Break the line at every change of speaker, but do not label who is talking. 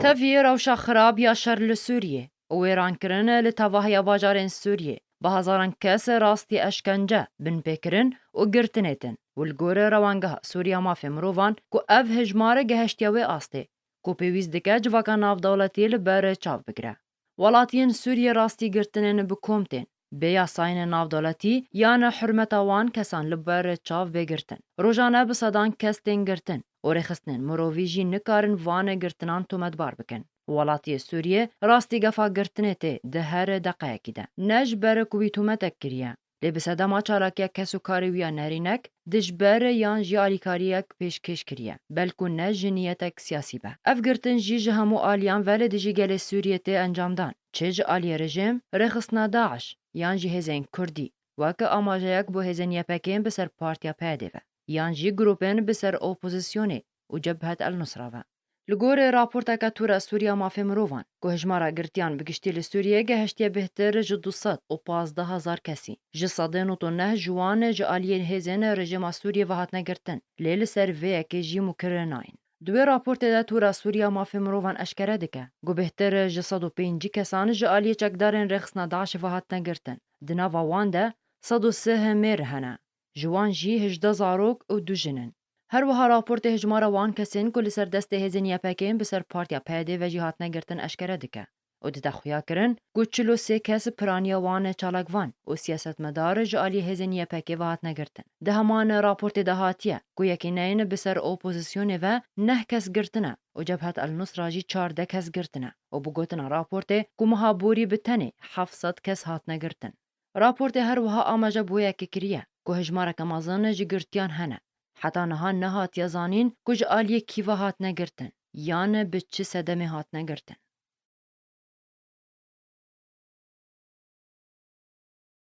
Tevî rewşa xirab ya şer li Sûriyê û wêrankirin li tevahiya bajarên Sûriyê bi hezaran kes rastî eşkence, binpêkirin û girtinê din û li gor Rewangeha Sûrî ya Mafê Mirovan ku ev hejmar gehiştiye wê astê ku pêwîst dike civaka navdewletî li ber çav bigire. Welatiyên Sûriyê rastî girtinê ne bi kom tên, bê yasayên navdeletî ya ne hurmeta wan kesan li ber çav bê girtin. Rojane bi sedan kes tên girtin û rêxistinên mirovî jî nikarin vanê girtinan tometbar bikin. Welatiyê Sûriyê rastî gefa girtinê tê di her deqeyekî de. Ne ji ber ku wî tometek kiriye. lê bi sedema çalakiyek kesûkarê wî ya nerînek dijber yan jî alîkariyek pêşkêş kiriye, belkû ne jiniyetek siyasî be. Ev girtin jî ji hemû aliyan ve li dijî gelê Sûriyê tê encam dan, çi ji aliyê rejim, rêxistina DAIŞ yan jî hêzên kurdî, weke amajeyek bo hêzên YPGên bi ser partiya PYD'ê ve, yan jî grûpên bi ser opozisyonê û Cebhet El-Nusra ve. Li gorî raporteke Tura Sûriya Mafê Mirovan, ku hijmara girtiyan bi giştî li Sûriyeyê gehiştiye bihtir ji du sed û pazdeh hezar kesî, ji sedê nod û neh ji wan ji aliyên hêzên rejîma Sûriyê ve hatine girtin, lê li ser vê yekê jî mûkirin nayên. Di wê raportê de Tura Sûriya Mafê Mirovan eşkere dike, ku bihtir ji sed û pêncî kesan ji aliyê çekdarên rêxistina DAIŞ'ê ve hatine girtin, di nava wan de sed û sih mêr hene, ji wan jî hejdeh zarok û du jin in. Her wiha raportê hijmara wan kesên ku li ser destê hêzên YPK'ên bi ser Partiya PYD'ê ve jî hatine girtin eşkere dike û dide xuyakirin ku çil û sê kes piraniya wan çalakvan û siyasetmedar ji aliyê hêzên YPK'ê ve hatine girtin. Di heman raportê de hatiye ku yekîneyn bi ser opozisyonê ve neh kes girtine û Cebhat El-Nusra jî çardeh kes girtine û bi gotina raportê ku meha borî bi tenê heft sed kes hatine girtin. Raportê her wiha amaje bi wê yekê kiriye ku hejmareke mezin ji girtiyan hene. Heta niha nehatiye zanîn ku ji aliyê kî ve hatine girtin yan bi çi sedemê hatine girtin.